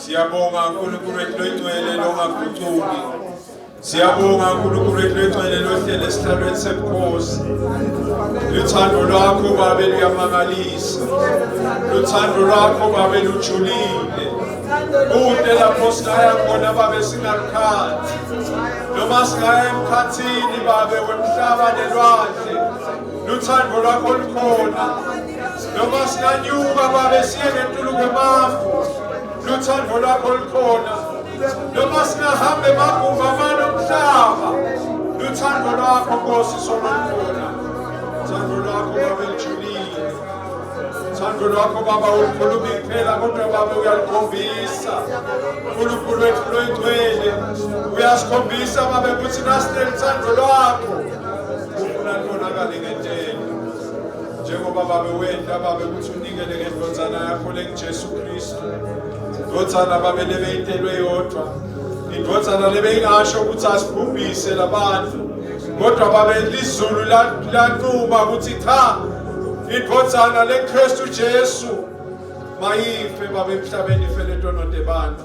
Siyabonga uNkulunkulu wethu loyingcwele longagucuki. Siyabonga uNkulunkulu wethu loyingcwele lohlele esihlalweni sebukhosi. Luthando lwakho babe luyamangalisa. Luthando lwakho babe lujulile. Kude lapho singaya khona babe singalukhathi. Noma singaya emkhathini babe wemhlaba nelwandle. Luthando lwakho lukhona. noma singanyuka babe siye ngentulu kwemafu luthando lwakho lukhona noma singahamba emaguva amane omhlaba luthando lwakho nkosi sona lukhona thando lwakho babe lujulile thando lwakho baba ulikhuluma iphela kodwa baba uyalikhombisa unkulunkulu wethu loyingcwele uyasikhombisa babe ukuthi nasinelithando lwakho ufuna libonakale ngentela njengoba babe wenda babe ukuthi unikele ngendodana yakho lengijesu kristu indodana babe lebeyitelwe yodwa indodana lebeyingasho ukuthi asibhubhise labantu kodwa babe lizulu lanquma ukuthi cha indodana lekristu jesu mayife babe emhlabeni ifeletwe nodebantu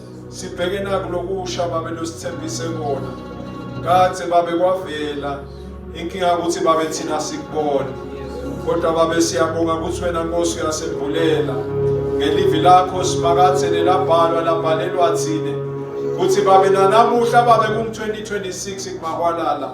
Sibheke naku lokusha babe losithembise kona. Kade babe kwavela inkinga ukuthi babe thina sikubona. Kodwa babe siyabonga ukuthi wena Nkosi uyasembulela. Ngelivi lakho simakathe nelabhalwa labhalelwa thina. Kuthi babe nanamuhla babe ku 2026 kumakwalala.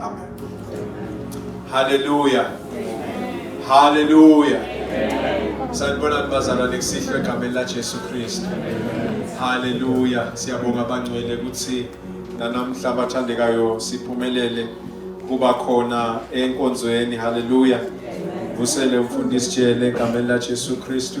Amen. Hallelujah. Hallelujah. Sanibona bazalwane kusihlwe egameni laJesu Kristu. Hallelujah. Siyabonga abangcwele ukuthi nanamhla abathandekayo siphumelele kuba khona enkonzweni. Hallelujah. Vusele umfundisi jele egameni laJesu Kristu.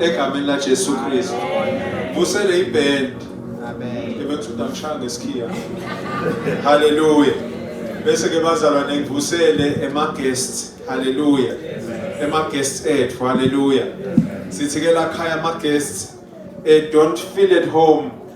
Egameni la Jesu Kristu. Vusele iband. Amen. Ebekusuka ngishaya ngesikhiya. Hallelujah. Bese ke bazalwa nengivusele ema guests. Hallelujah. Ema guests ethu. Hallelujah. Sithi ke la khaya ama guests eh don't feel at home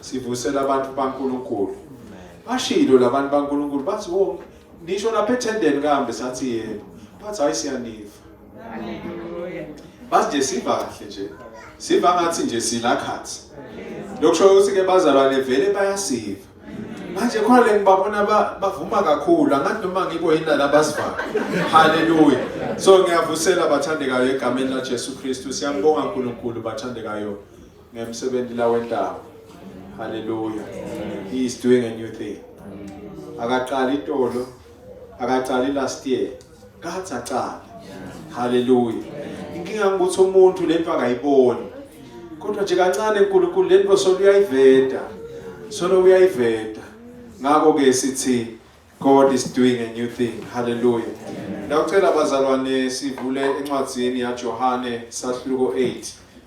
Sivusela abantu baNkulunkulu. Bashilo labantu baNkulunkulu bathi wo oh, nisho lapha ethendeni kambe sathi yebo. Bathi hayi siyaniva. Bathi nje siva kahle nje. Siva ngathi nje sila khathi. Lokusho ukuthi ke bazalwane vele bayasiva. Manje khona le ngibabona bavuma kakhulu angathi noma ngikuyina labasivayo. Haleluya. So ngiyavusela bathandekayo egameni laJesu Kristu. Siyambonga uNkulunkulu bathandekayo. ngemsebenzi la wentaba haleluya he is doing a new thing akaqali itolo akaqali last year kathi aqala haleluya inkinga ukuthi umuntu lento akayiboni kodwa nje kancane uNkulunkulu lento solo uyayiveda solo uyayiveda ngakho ke sithi God is doing a new thing haleluya Ndawucela abazalwane sivule encwadzini yaJohane sahluko 8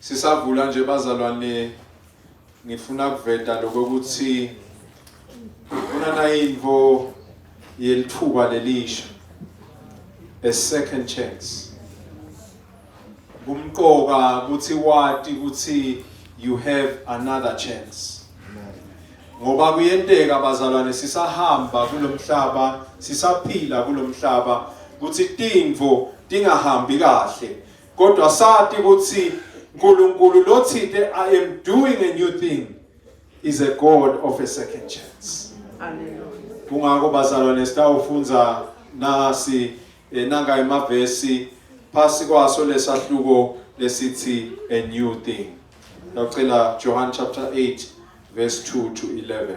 Sisavula nje bazalwane ngifuna kuveta lokokuthi kunana info yelithuba lelisha a second chance kumqoka ukuthi wati ukuthi you have another chance ngoba kuyenteka bazalwane sisahamba kulomhlaba sisaphila kulomhlaba ukuthi tinvo tingahambi kahle Kodwa sati ukuthi uNkulunkulu lothinte I am doing a new thing is a God of a second chance. Hallelujah. Kungakho bazalwane sitawufunda nasi eh, nanga emavesi phasi kwaso lesahluko lesithi a new thing. Ngicela Johann chapter 8 verse 2 to 11.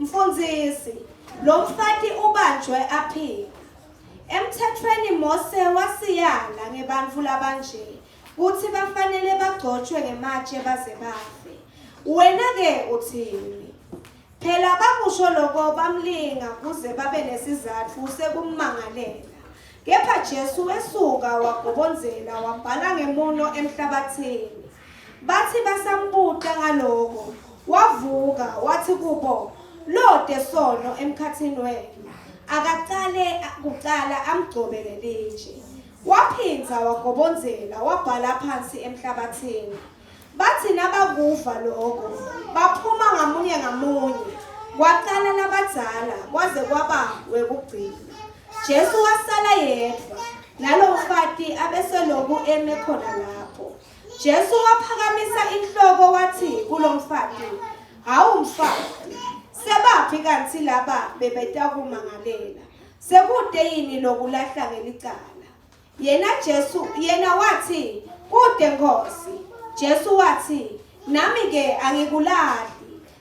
Mfundisi, lo mfati ubanjwe aphila. Emthethweni Mose wasiyala ngebantfu labanje kutsi bafanele bagcotshwe ngematshe baze bafe. Wena-ke uthini? Phela bakusho loko bamlinga kuze babe nesizatfu sekummangalela. Kepha Jesu wesuka wagobonzela wabhala ngemuno emhlabatsini. Bathi basambuta ngaloko, wavuka wathi kubo, Lode sono emkhathini wena, akaqale kuqala amgcobele litshe. Waphindza wagobonzela wabhala phansi emhlabathini. Bathi nabakuva loko, baphuma ngamunye ngamunye, kwaqala labadzala kwaze kwaba wekugcina. Jesu wasala yedvwa, nalomfati abeseloku eme khona lapho. Jesu waphakamisa inhloko wathi kulo mfati, Hawu mfati, sebaphi kanti laba bebetakumangalela? Sekude yini lokulahla ngelicala? Yena Jesu, yena wathi, Kude Nkosi. Jesu wathi, Nami ke angikulahli.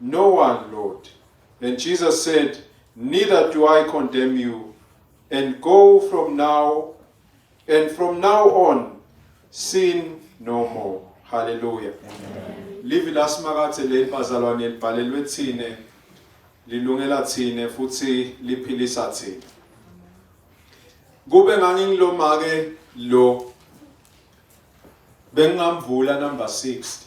No one, Lord. And Jesus said, Neither do I condemn you. And go from now, and from now on, sin no more. Hallelujah. Livi lasimakathe leli bazalwane libhalelwe thine lilungela thine futhi liphilisa thine. Kube ngangingilomake lo bengingamvula number 60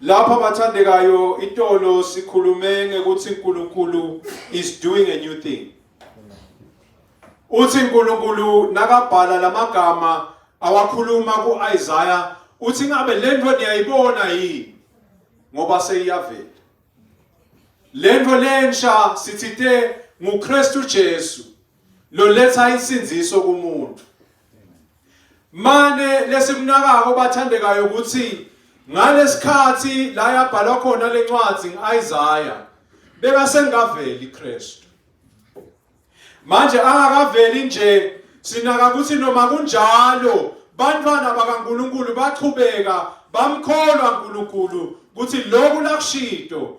Lapha bathandekayo itolo sikhulume ngekuthi uNkulunkulu is doing a new thing. Uthi uNkulunkulu nakabhala lamagama awakhuluma kuIsaiah uthi ngabe lento niyayibona yini ngoba seyiyavela. Lento lensha sithithe nguKristu Jesu loletha insinziso kumuntu. mane lesimnakako bathandekayo ukuthi ngalesikhathi la yabhalwa khona lencwadi ngiIsaiah beka sengaveli Kristu manje angakaveli nje sinaka ukuthi noma kunjalo bantwana bakaNkuluNkulu bachubeka bamkholwa uNkuluNkulu ukuthi lokhu lakushido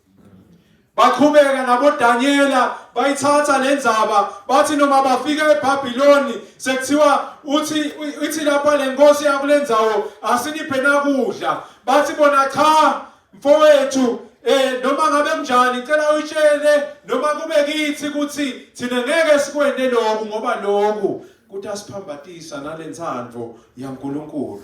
baqhubeka naboDaniela bayithatha le ndzaba bathi noma bafika eBabiloni sekuthiwa uthi ithi lapha le nkosi yakule ndzawo asiniphe nakudla bathi bona cha mfowethu eh noma ngabe kunjani ngicela uyitshele noma kube kithi ukuthi thina ngeke sikwende lokhu ngoba lokhu kuthi asiphambatisa nalensandvo yaNkulunkulu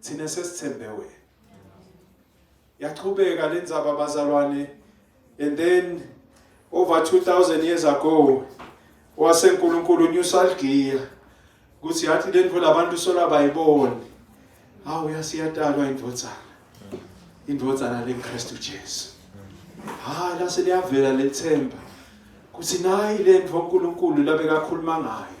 thina sesithembe wena yaqhubeka le ndzaba bazalwane and then over 2000 years ago wase uNkulunkulu unyusalgiya ukuthi yathi lento labantu sola bayibone hawu yasiyatalwa indvodzana indvodzana leNkristu Jesu ha lase liyavela lethemba ukuthi nayi lento uNkulunkulu labekakhuluma ngayo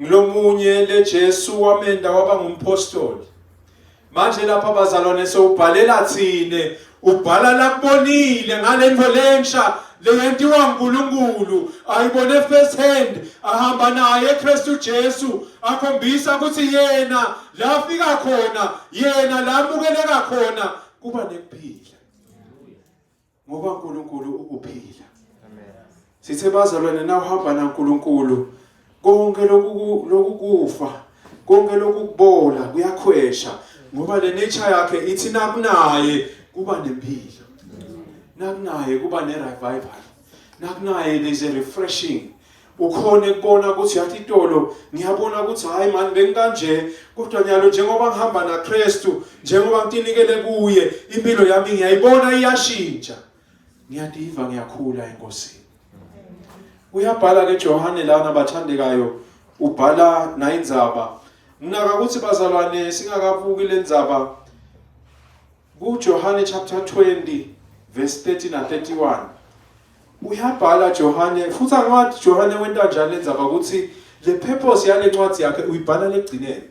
Ngilomunye le Jesu wamenda waba ngumpostoli. Manje lapha bazalwane sewubhalela thina, ubhala lakubonile ngalento lensha leyentiwa uNkulunkulu ayibone first hand ahamba naye Kristu Jesu akhombisa ukuthi yena la afika khona yena la amukeleka khona kuba nekuphila ngoba uNkulunkulu ukuphila amen sithe bazalwane na uhamba na uNkulunkulu konke lokhu lokukufa konke lokukubola kuyakhwesha ngoba le nature yakhe ithi nakunaye kuba nempilo nakunaye kuba ne revival nakunaye there's a refreshing kukhona ekubona ukuthi yathi itolo ngiyabona ukuthi hayi mani bengikanje kodwa nyalo njengoba ngihamba naKristu njengoba ngitinikele kuye impilo yami ngiyayibona iyashintsha ngiyadiva ngiyakhula enkosini uyabhala ke Johane lana bathandekayo ubhala nayindzaba nginaka ukuthi bazalwane singakabuki lenzaba KuJohane chapter 20 verse 30 na 31 uyabhala Johane futhi angiwathi Johane wenta njani lenzaba ukuthi le purpose yale ncwadi yakhe uyibhala legcineni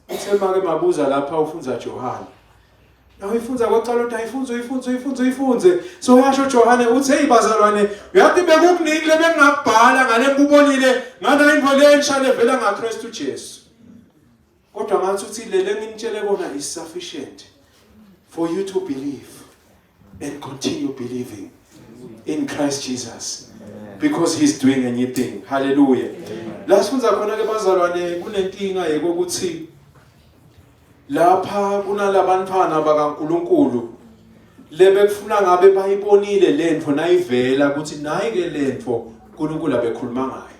uthe make mabuza lapha ufunza Johane nawe ifunza kwaqala uthi ayifunze uyifunze uyifunze uyifunze so uyasho Johane uthi hey bazalwane uyathi bekukuningi lebengingabhala ngale kubonile ngana imvole entsha levela ngaKristu Jesu Kodwa ngathi uthi lele nginitshele kona is sufficient for you to believe and continue believing in Christ Jesus because he's doing a new thing. Hallelujah. La sifunza khona ke bazalwane kunenkinga yekokuthi lapha kunalabantwana bakaNkuluNkulu lebekufuna ngabe bayibonile lento nayivela ukuthi nayi ke lento uNkulunkulu abekhuluma ngayo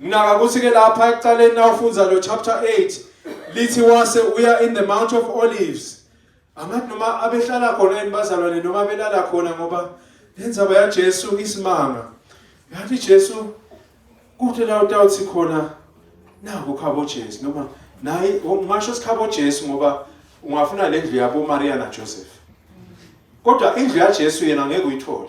Nginaka ukuthi ke lapha ekuqaleni nawufunza lo chapter 8 lithi wase uya in the mount of olives. Angathi noma abehlala khona yini bazalwane noma belala khona ngoba lenzaba yaJesu isimanga. Yathi Jesu kuthi la utawuthi khona naku khabo Jesu noma naye ungasho sikhabo Jesu ngoba ungafuna le ndlu yabo Maria na Joseph. Kodwa indlu yaJesu yena ngeke uyithole.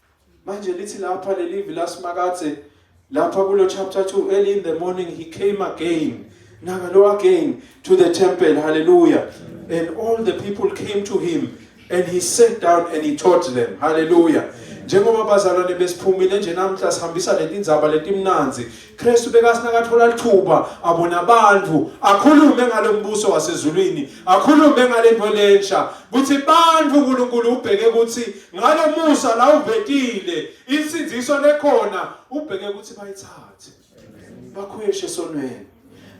Manje lithi lapha lelivi laSimakadze lapha kulo chapter 2 early in the morning he came again nakalo again to the temple hallelujah and all the people came to him and he sat down and he taught them hallelujah njengoba bazalwane besiphumile nje namhla sihambisa letindzaba letimnanzi Kristu bekasinakathola lithuba abona abantu akhulume ngalombuso wasezulwini akhulume ngalento lensha kuthi bantu uNkulunkulu ubheke ukuthi ngalomusa la uvetile insinziso lekhona ubheke ukuthi bayithathe bakhweshe sonweni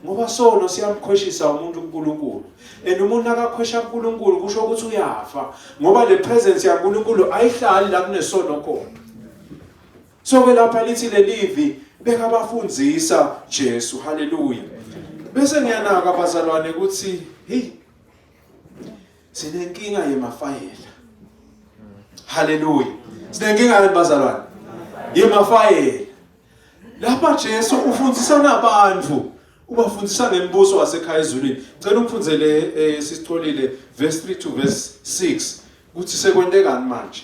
ngoba sono siyamkhweshisa umuntu uNkulunkulu and umuntu akakhwesha uNkulunkulu kusho ukuthi uyafa ngoba le presence yaNkulunkulu ayihlali la kunesono khona So ke lapha lithi lelivi bekabafundisa Jesu. Haleluya. Bese ngiyanaka abazalwane ukuthi hey sinenkinga yemafayela. Haleluya. Sinenkinga yemazalwane. Yemafayela. Lapha Jesu ufundisa nabantu ubafundisa ngembuso wasekhaya ezulwini ngicela umfundzele eh, sisicolile verse 3 to verse 6 ukuthi sekwente kani manje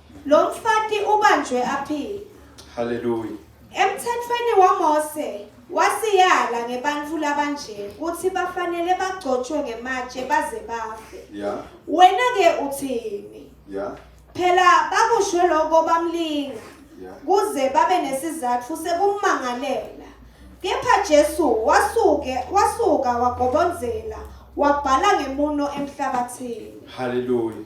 Lo mfati ubanjwe aphile. Hallelujah. Emthethweni waMose wasiyala ngebantfu labanje kutsi bafanele bagcotshwe ngematshe baze bafe. Yeah. Wena ke uthini? Yeah. Phela bakusho lokho bamlinga. Yeah. Kuze babe nesizatfu sekumangalela. Kepha Jesu wasuke wasuka wagobonzela wabhala ngemuno emhlabathini. Hallelujah.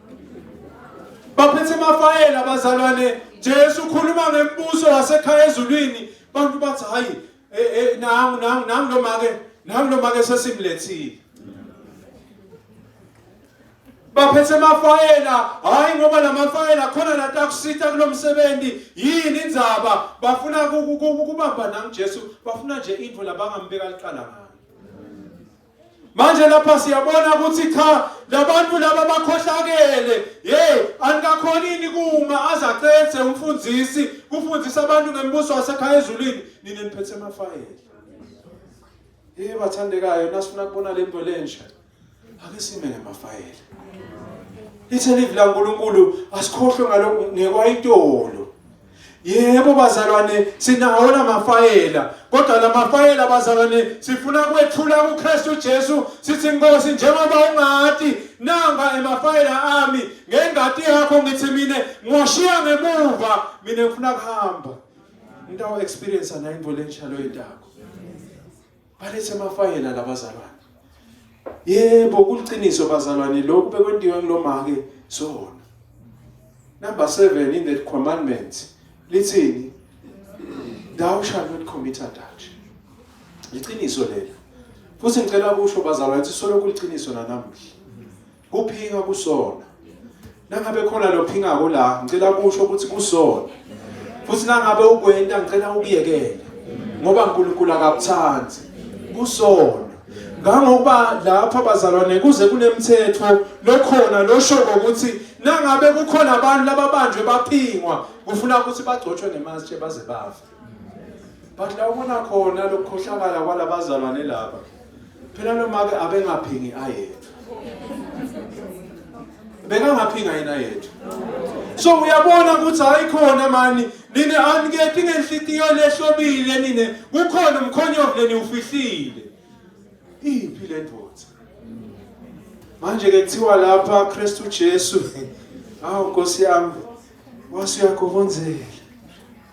baphethe amafayela abazalwane Jesu ukhuluma ngembuso yasekhaya ezulwini bantu bathi hayi eh, eh, nangu nangu nangu lo make nangu lo make sesimlethile baphethe amafayela hayi ngoba lamafayela khona nathi akusitha kulomsebenzi yini indzaba bafuna kubamba nangu Jesu bafuna nje into labangambeka liqala ngayo manje lapha siyabona ukuthi cha labantu laba bakhohlakele hey anikakhonini kuma azaqethe umfundisi kufundisa abantu ngembuso wasekhaya ezulwini nina niphethe amafayela hey bathandekayo nasifuna kubona le nto lensha ake sime ngemafayela ithe livi laNkulunkulu asikhohlwe ngalokho ngekwayitolo Yebo bazalwane sinawo namafayela kodwa lamafayela bazalwane sifuna kwethula kuKristu Jesu sithi Nkosi njengoba ungati nanga emafayela ami ngengati yakho ngithi mina ngoshiya ngemuva mina ngifuna kuhamba into experience ana into lenjalo yendako Balethe amafayela labazalwane. Yebo kuliqiniso bazalwane lokhu bekwentiwa kulomake sona. Number 7 in the commandments lithini? Thou shall not commit adultery. Liqiniso lelo. Futhi ngicela kusho bazalwane ukuthi solo kuliqiniso nanamuhla. Kuphinga kusona. Nangabe khona lophingako la, ngicela kusho ukuthi kusona. Futhi nangabe ukwenta ngicela ukuyekela. Ngoba uNkulunkulu akakuthandi. Kusona. Ngangokuba lapha bazalwane kuze kunemthetho lokhona losho ukuthi nangabe kukhona abantu lababanjwe baphingwa kufuna ukuthi bagcotshwe ngemashe baze bafe. but la ubona khona lokukhohlakala kwalabazalwane laba phela nomake abengaphingi ayena bekangaphinga yena yethu so uyabona ukuthi hayi khona mani nine aniketi ngenhlitiyo lehlobile nine kukhona umkhonyovu leniwufihlile iphi le ndoda manje-ke kuthiwa lapha kristu jesu awu nkosi yami wasuyagobonzela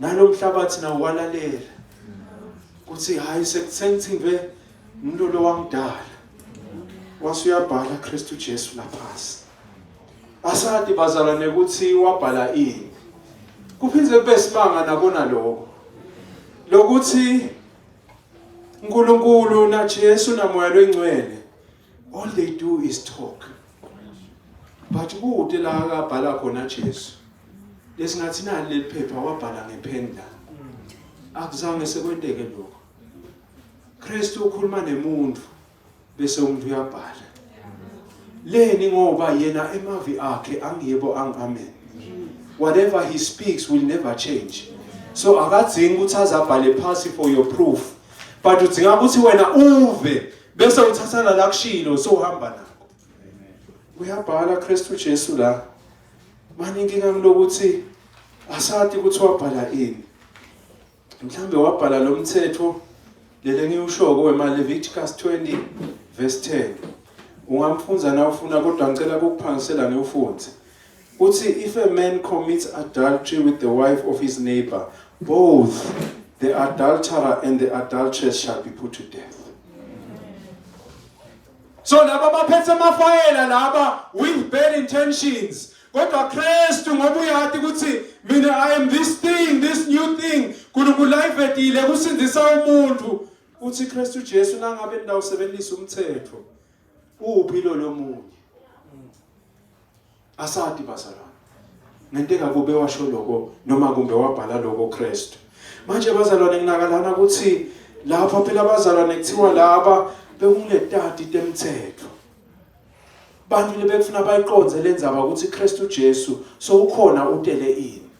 nalomhlabathi nawo walalela kuthi hayi sengithimbe umuntu lo wangidala wase uyabhala Kristu Jesu laphansi asadi bazalwane ukuthi wabhala ini kuphinde kube simanga nakona lokho lokuthi uNkulunkulu naJesu namoya lwengcwele all they do is talk but kude la akabhala khona Jesu lesingathi nali leli phepha wabhala ngepheni la akuzange sekwenteke lokho Kristu ukhuluma nemuntu bese umuntu uyabhala leni ngoba yena emavi akhe angiyebo ang amen whatever he speaks will never change so akadzingi ukuthi azabhale phasi for your proof but udzinga ukuthi wena uve bese uthatha nala kushilo sowuhamba nakho uyabhala Kristu Jesu la manje inkinga lokuthi asati ukuthi wabhala ini mhlambe wabhala lo mthetho lele engiwushoko wemaLeviticus 20 verse 10 ungamfunza na ufuna kodwa ngicela ukuphangisela ngiwufunze Uthi if a man commits adultery with the wife of his neighbor, both the adulterer and the adulteress shall be put to death. So laba baphethe amafayela laba with bad intentions. kodwa Kristu ngoba uyathi ukuthi mina I am this thing this new thing uNkulunkulu ayivedile kusindisa umuntu uthi Kristu Jesu nangabe nidawusebenzisa umthetho uphi lo lomunye asati bazalwane ngento engakube washo lokho noma kumbe wabhala lokho Kristu manje bazalwane nginakalana ukuthi lapha phela abazalwane kuthiwa laba bekungetati temthetho bantu lebekufuna bayiqonze lenzaba ukuthi Kristu Jesu sowukhona utele ini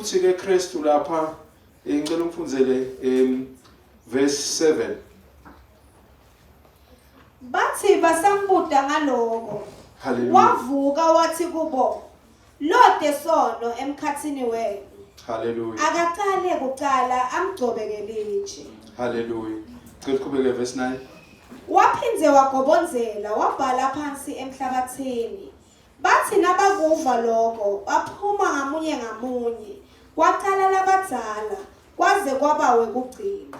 Uthi ke Kristu lapha eh, ngicela umfundzele em verse 7. Bathi basambuda ngaloko. Hallelujah. Wavuka wathi kubo, "Lode sono emkhathini wenu." Hallelujah. Akaqale kuqala amgcobe ngelitshe. Hallelujah. Cela uqhubeke verse 9. Waphinde wagobonzela wabhala phansi emhlabathini. Bathi nabakuva lokho baphuma ngamunye ngamunye, kwacala labadzala kwaze kwaba wekugcina.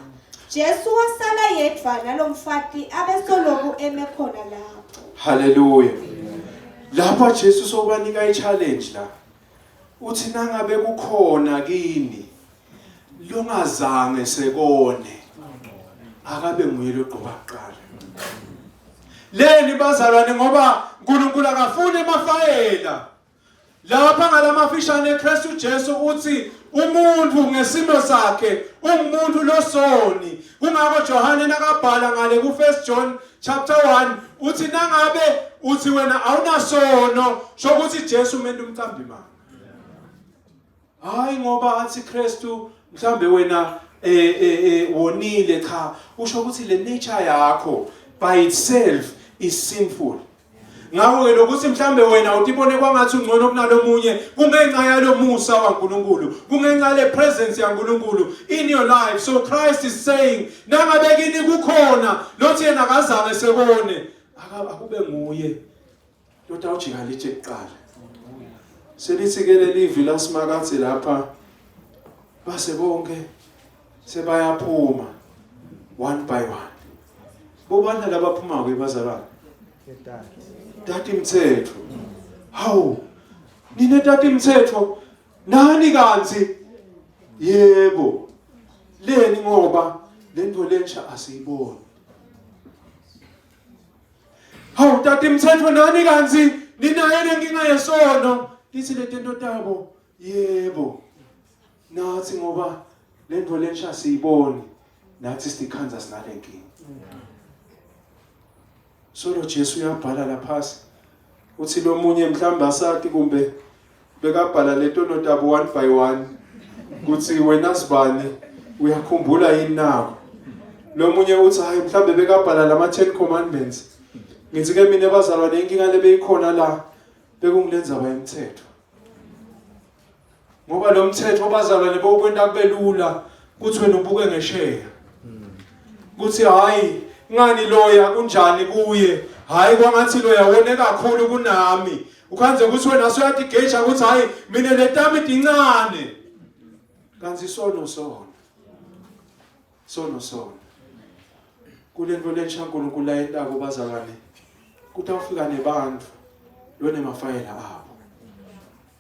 Jesu wasala yedvwa nalomfati abesoloku eme khona lapho. Haleluya. Lapha Jesu sobanika i-challenge la. Uthi nangabe kukhona kini longazange sekone akabe nguye logqoka kuqala leni bazalwane ngoba uNkulunkulu akafuni emafayela lapha ngalamafishane eKristu Jesu uthi umuntu ngesimo sakhe ungumuntu losoni kungakho Johane nakabhala ngale ku 1 John chapter 1 uthi nangabe uthi wena awunasono shokuthi Jesu umuntu umcambi manje Hayi ngoba athi Kristu mhlambe wena eh eh, eh wonile cha usho ukuthi le nature yakho by itself is sinful. Ngakho ke lokuthi mhlambe wena utibone kwangathi ungcono kunalomunye kungenxa yalomusa waNkulunkulu kungenxa le presence yaNkulunkulu in your life so Christ is saying nangabe kini kukhona lothi yena akazange sekone akube nguye Ndoda ujika lithi kuqala. Selithi ke leli vi lasimakathi lapha base bonke sebayaphuma one by one. Bobani labaphuma ke bazalwane? Tati Mthetho. Hawu. Nine Tati Mthetho nani kanzi? Yebo. Leni ngoba lento lensha asiyiboni. Hawu tata imthetho nani kanti ninayo lenkinga yesono lithi le tento tabo yebo nathi ngoba le nto lensha siyiboni nathi sikhanda sinale nkinga solo Jesu uyabhala lapha Uthi lomunye mhlawumbe asati kumbe bekabhala leto notabo one by one kuthi wena sibani uyakhumbula yini na lomunye uthi hayi mhlawumbe bekabhala lama 10 commandments ngithi ke mina bazalwane inkinga lebeyikhona la bekungilenza bayemthetho ngoba lo mthetho obazalwane bokwenta kube lula ukuthi wena ubuke ngesheya kuthi hayi ngani loya kunjani kuye hayi kwangathi loya wone kakhulu kunami ukhanze ukuthi wena soyatigeja ukuthi hayi mina letami dincane kanti sono sono sono sono kule nto lensha uNkulunkulu ayentako bazalwane kutawufika nebantu lonema fayela abo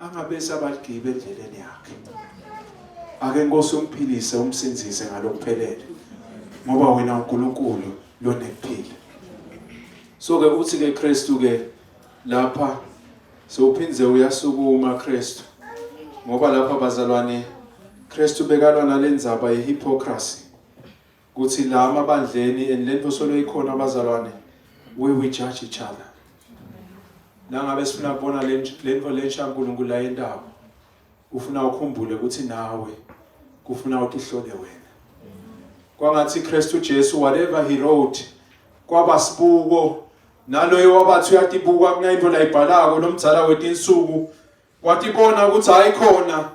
Angabese abaligibe endleleni yakhe. Ake Nkosi umphilise umsindise ngalokuphelele. Ngoba wena uNkulunkulu lonekuphila. So ke uthi ke Kristu ke lapha sewuphindze uyasukuma Kristu. Ngoba lapha bazalwane Kristu bekalwa nalendzaba yehypocrisy. Kuthi la amabandleni and lento solo ikhona abazalwane we we judge each other. Nangabe sifuna kubona lento lensha uNkulunkulu la yendawo. Ufuna ukhumbule ukuthi nawe kufuna utihlole wena. Kwangathi Kristu Jesu whatever he wrote kwaba sibuko naloyo wabathi uyatibuka kunayinto layibhalako nomdzala wetinsuku Watibona ukuthi hayi khona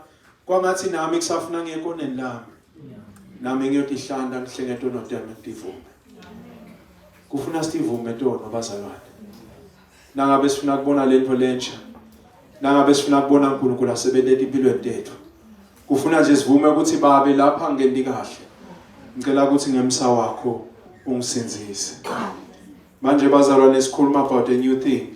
kwangathi nami kusafuna ngekoneni lami. Nami ngiyotihlanda ngihlenge tono tami ngitivume. Kufuna sivume tono bazalwane. Nangabe sifuna kubona lento lentsha. Nangabe sifuna kubona uNkulunkulu asebenza empilweni yethu. Kufuna nje sivume ukuthi babe lapha ngendi kahle. Ngicela ukuthi ngemsa wakho ungisindise. Manje bazalwane sikhuluma about a new thing.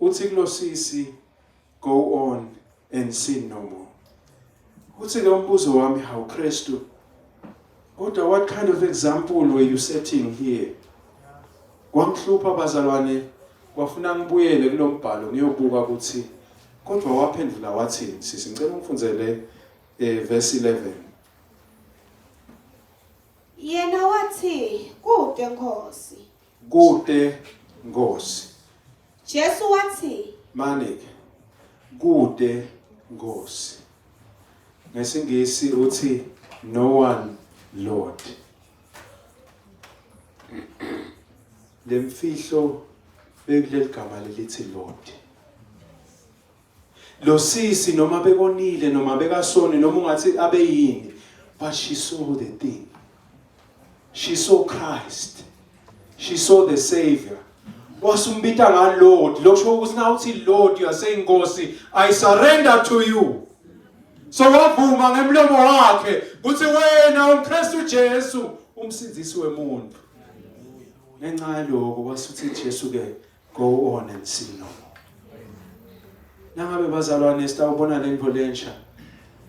Uthi kulosisi go on and sin no more. Uthi ke umbuzo wami how Christu kodwa what kind of example were you setting here? Kwamhlupha bazalwane wafuna ngibuyele kulombhalo ngiyobuka ukuthi kodwa waphendula wathi sisi ngicela ungifundele eh verse 11 Yena wathi kude Nkosi Kude Nkosi. Jesu wathi. Mani-ke, kude Nkosi. NgesiNgisi uthi no one Lord. Lemfihlo bekuleli gama lelithi Lord. Losisi noma bekonile noma bekasoni noma ungathi abeyini but she saw the thing. She saw Christ. She saw the savior. Wasumbita nga Lord. Lokusho ukuthi na uthi Lord you are saying Nkosi I surrender to you. So wavuma ngemlomo wakhe ukuthi wena uMkristu Jesu umsindisi wemuntu. Ngenxa yaloko wasuthi Jesu ke go on and sin no more nangabe bazalwane sitawubona lento lensha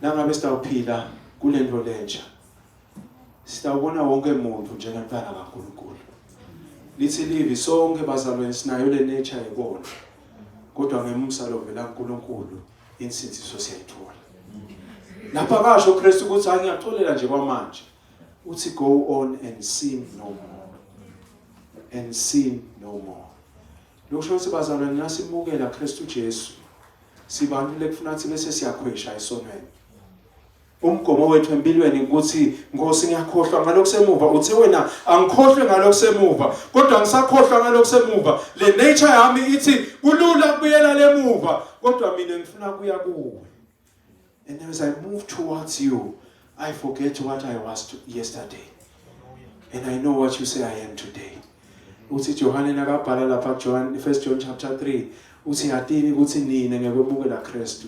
nangabe sitawuphila kulento lensha sitawubona wonke muntu njengomntana kaNkulunkulu lithi livi sonke bazalwane sinayo le nature yebona kodwa ngemusa lovela kuNkulunkulu insinsiso siyayithola lapha kasho uKristu ukuthi angiyaxolela nje kwamanje uthi go on and sin no more and sin no more lokusho ukuthi bazalwane nasimukela Kristu Jesu sibantu lekufuna ukuthi bese siyakhwesha esonweni umgomo wethu empilweni ukuthi Nkosi ngiyakhohlwa ngalokho semuva uthe wena angikhohlwe ngalokho semuva kodwa ngisakhohlwa ngalokho semuva le nature yami ithi kulula kubuyela lemuva kodwa mina ngifuna kuya kuwe And as I move towards you, I forget what I was yesterday. And I know what you say I am today. uthi Johane nakabhala lapha John 1 John chapter 3 uthi yatini ukuthi nina ngekwemukela Kristu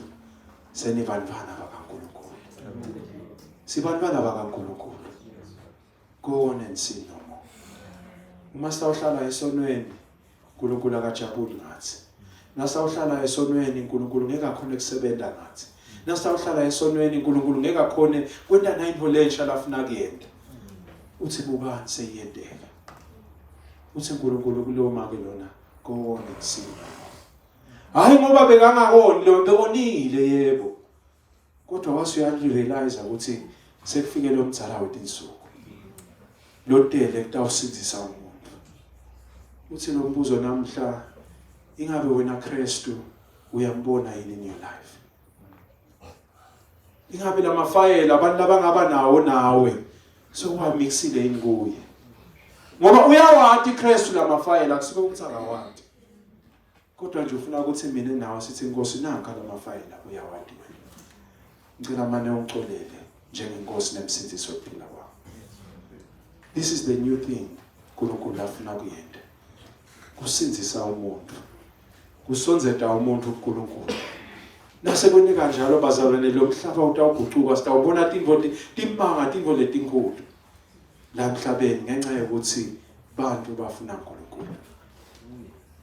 senibantwana bakaNkulunkulu sibantwana bakaNkulunkulu Go on and sin no more. Uma sawuhlala esonweni uNkulunkulu akajabuli ngathi. Nasawuhlala esonweni uNkulunkulu ngeke akhona ukusebenza ngathi. Nasawuhlala esonweni uNkulunkulu ngeke akhona kwenta nayinto lensha lafuna kuyenda. Uthi bubani seyiyendeka. Uthi uNkulunkulu kuloma ke lona go on and sin no more. Hayi ngoba bekangakoni lo bekonile yebo. Kodwa wase uyarealize ukuthi sekufike lo mdzala wetinsuku. Lo tele kutawusindisa umuntu. Uthi lo mbuzo namhla ingabe wena Kristu uyambona yini in your life? Ingabe lamafayela abantu labangaba nawo nawe sokuwamixile yini kuye? Ngoba uyawati Kristu lamafayela kusuke ukuthi akawati. Kodwa nje ufuna ukuthi mina nawe sithi inkosi nanka lamafayela uyawadinga. Ngicela mane ungixolele njengenkosi nemsindisi wokuphila kwakho. This is the new thing uNkulunkulu afuna kuyenda. Kusindisa umuntu. Kusonzeta umuntu uNkulunkulu. Nase kwene kanjalo bazalwane lo mhlaba utawugucuka sitawubona tintfo timanga tintfo letinkulu. La mhlabeni ngenxa yokuthi bantu bafuna uNkulunkulu.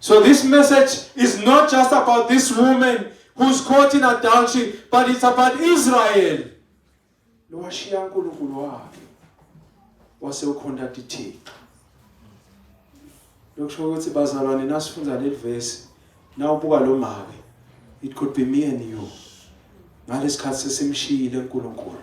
So this message is not just about this woman who's caught in adultery, but it's about Israel. Lowashiya uNkulunkulu wakhe wase ukhonta ithixo. Lokusho ukuthi bazalwane nasifunda leli verse nawubuka lo make it could be me and you. Ngalesikhathi sesimshiyile uNkulunkulu.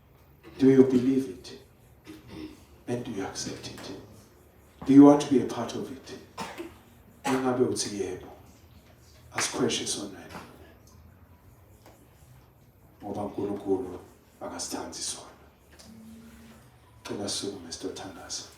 Do you believe it? And do you accept it? Do you want to be a part of it? Ingabe uthi yebo. Asikhweshe sonwena. Ngoba uNkulunkulu akasithandi sona. Cela sukume sitothandaza.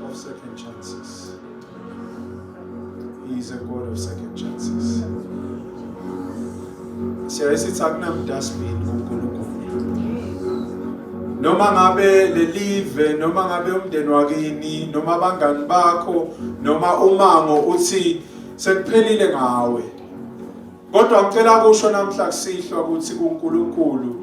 of second chances. He is a God of second chances. Siyaye sithi akunamdustbin kuNkulunkulu. Noma ngabe lelive, noma ngabe umndeni wakini, noma abangani bakho, noma umango uthi sekuphelile ngawe. Kodwa ngicela kusho namhla kusihlwa ukuthi kuNkulunkulu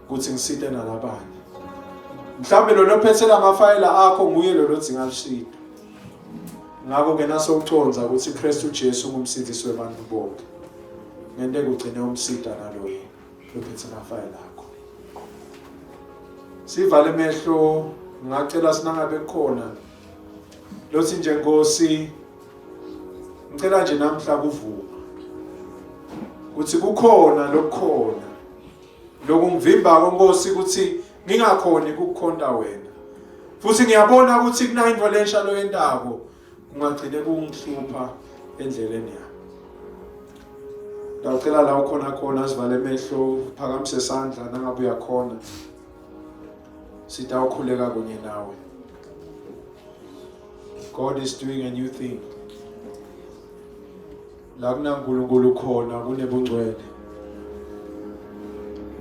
ukuthi ngisite nalabanye mhlawumbe lona ophethela amafayela akho nguye lona odzinga lusido ngakho-ke nasowucondza ukuthi ukristu ujesu ungumsindisi webantu bonke ngente kugcine umsida naloye lophethe amafayela akho sivale emehlo ngacela sinangabe khona lothi nje nkosi ngicela nje namhla kuvuma ukuthi kukhona lokukhona Lokungivimba kwenkosi ukuthi ngingakhoni ukukhonta wena. Futhi ngiyabona ukuthi kunayinto lensha loyentako kungagcine kungihlupha endleleni yakho. Ngiyacela la ukhona khona asivale emehlo phakamise isandla nangabe uyakhona. Sitawukhuleka kunye nawe. God is doing a new thing. La kunaNkulunkulu khona kunebungcwele.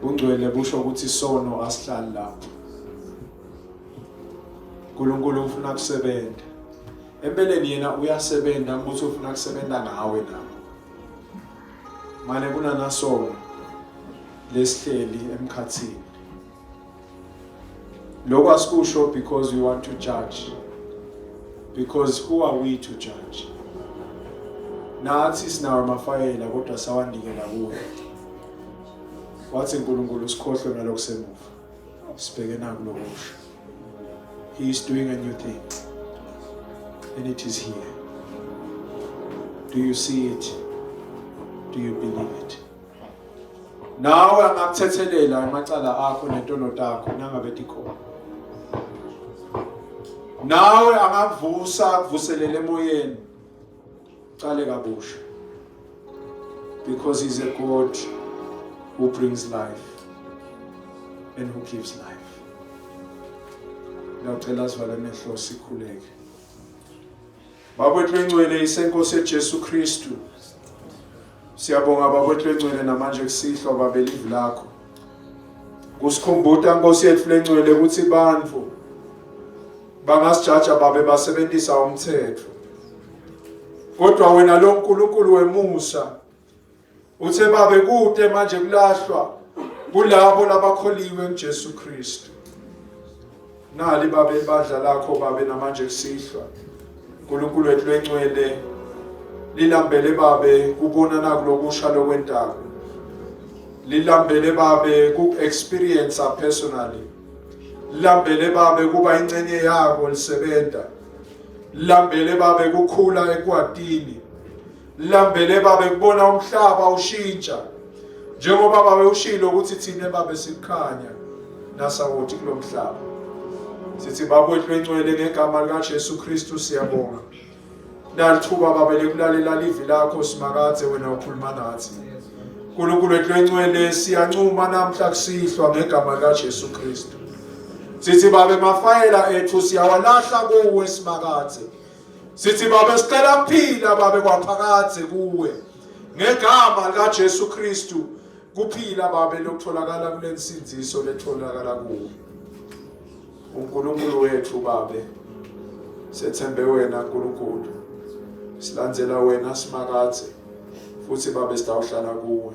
Bungcwele busho ukuthi isono asihlali lapho. uNkulunkulu ufuna kusebenza. Empeleni yena uyasebenza ukuthi ufuna kusebenza ngawe na. Mane kunanasono lesihleli emkhathini. lokho asikusho because we want to judge because who are we to judge nathi sinawo amafayela kodwa sawandikela kuwo wathi uNkulunkulu sikhohlwe ngalokho semuva sibheke naku lokusho he is doing a new thing and it is here do you see it do you believe it nawe angakuthethelela amacala akho netono takho nangabe tikhona nawe angakuvusa akuvuselele emoyeni cale kabusha because he's a god who brings life and who gives life ngiyacela sivale amehlo sikhuleke Bakwethu engcwele isenkosi eJesu Kristu. Siyabonga bakwethu engcwele namanje kusihlwa babelivi lakho. Kusikhumbuta Nkosi yethu lengcwele ukuthi bantu bangasijaja babe basebenzisa umthetho. Kodwa wena lo Nkulunkulu wemusa Uthe babe kude manje kulahlwa kulabo labakholiwe kuJesu Kristu. Nali babe badla lakho babe namanje kusihlwa. uNkulunkulu wethu lwencwele lilambele babe kubona nakulokusha lokwentaba. Lilambele babe ku-experience personally. Lilambele babe kuba incenye yako lisebenza. Lilambele babe kukhula ekwatini. lambele babe kubona umhlaba ushintsha njengoba babe ushilo ukuthi thina babe sikhanya nasawoti kulo mhlaba sithi bakwethu encwele ngegama likaJesu Kristu siyabonga nalithuba babe lekulalela livi lakho simakadze wena ukhuluma nathi uNkulunkulu wethu encwele siyancuma namhla kusihlwa ngegama likaJesu Kristu sithi babe mafayela ethu siyawalahla kuwe simakadze Sithi Baba sicela kuphila babe kwaphakade kuwe ngegama likaJesu Kristu kuphila babe lokutholakala kulensinziso letholakala kuwe uNkulunkulu wethu babe sethembe wena uNkulunkulu silandzela wena simakathe futhi babe sitawuhlala kuwe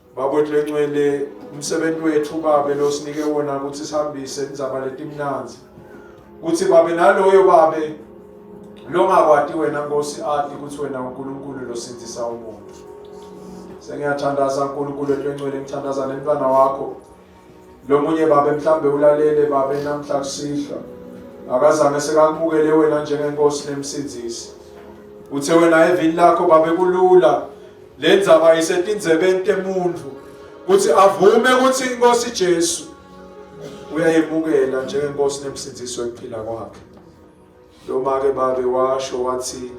Bakwethu lencwele umsebenzi wethu babe losinike wona ukuthi sihambise indzaba letimnanzi kuthi babe naloyo babe longakwati wena Nkosi ati ukuthi wena uNkulunkulu losindisa umuntu sengiyathandaza uNkulunkulu etwencwele ngithandaza nemntwana wakho Lo munye babe mhlambe ulalele babe namhla kusihlwa. Akazange sekamukele wena njengenkosi nemsindisi. Uthe wena evini lakho babe kulula le ndzaba isetindzebeni temuntfu kuthi avume ukuthi inkosi Jesu uyayemukela njengenkosi nemsindisi wekuphila kwakhe. Lomake babe washo wathi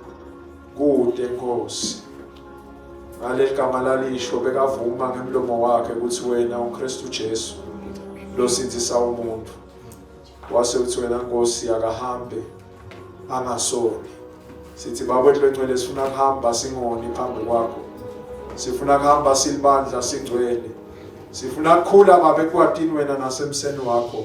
kude Nkosi. Ngaleli gama lalisho bekavuma ngemlomo wakhe ukuthi wena uKristu Jesu losindisa umuntu. Wase uthi wena Nkosi akahambe angasoni. Sithi baba wethu lengcwele sifuna kuhamba singoni phambi kwakho. Sifuna kuhamba silibandla singcwele. Sifuna kukhula babe kwatini wena nasemseni wakho.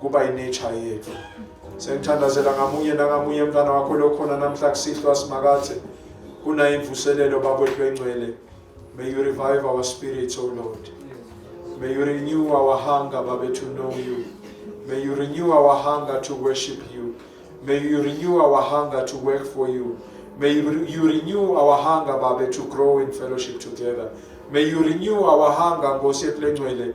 kuba inature yethu sengithandazela ngamunye nangamunye mntwana wakho lokhona namhla kusihlwa simakathe kunayo imvuselelo babwethu bengcwele may you revive our spirits o oh lord may you renew our hunger babe to know you may you renew our hunger to worship you may you renew our hunger to work for you may you renew our hunger babe to grow in fellowship together may you renew our hunger nkosi yethu lengcwele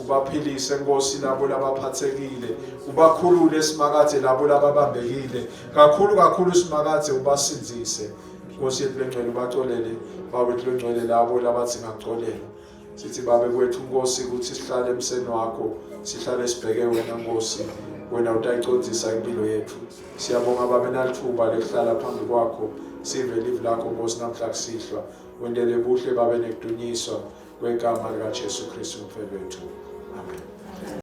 ubaphilise nkosi labo labaphathekile ubakhulule simakade labo lababambekile kakhulu kakhulu simakade ubasindise nkosi yethu lengcwele ubaxolele bawethu lengcwele labo labathi ngaxolela sithi babe kwethu nkosi ukuthi sihlale emseni wakho sihlale sibheke wena nkosi wena utayicondzisa impilo yethu siyabonga babe nalithuba lekuhlala phambi kwakho sive livi lakho nkosi namhla kusihlwa wendele buhle babe nekudunyiswa kwegama likaJesu Kristu mfethu wethu amen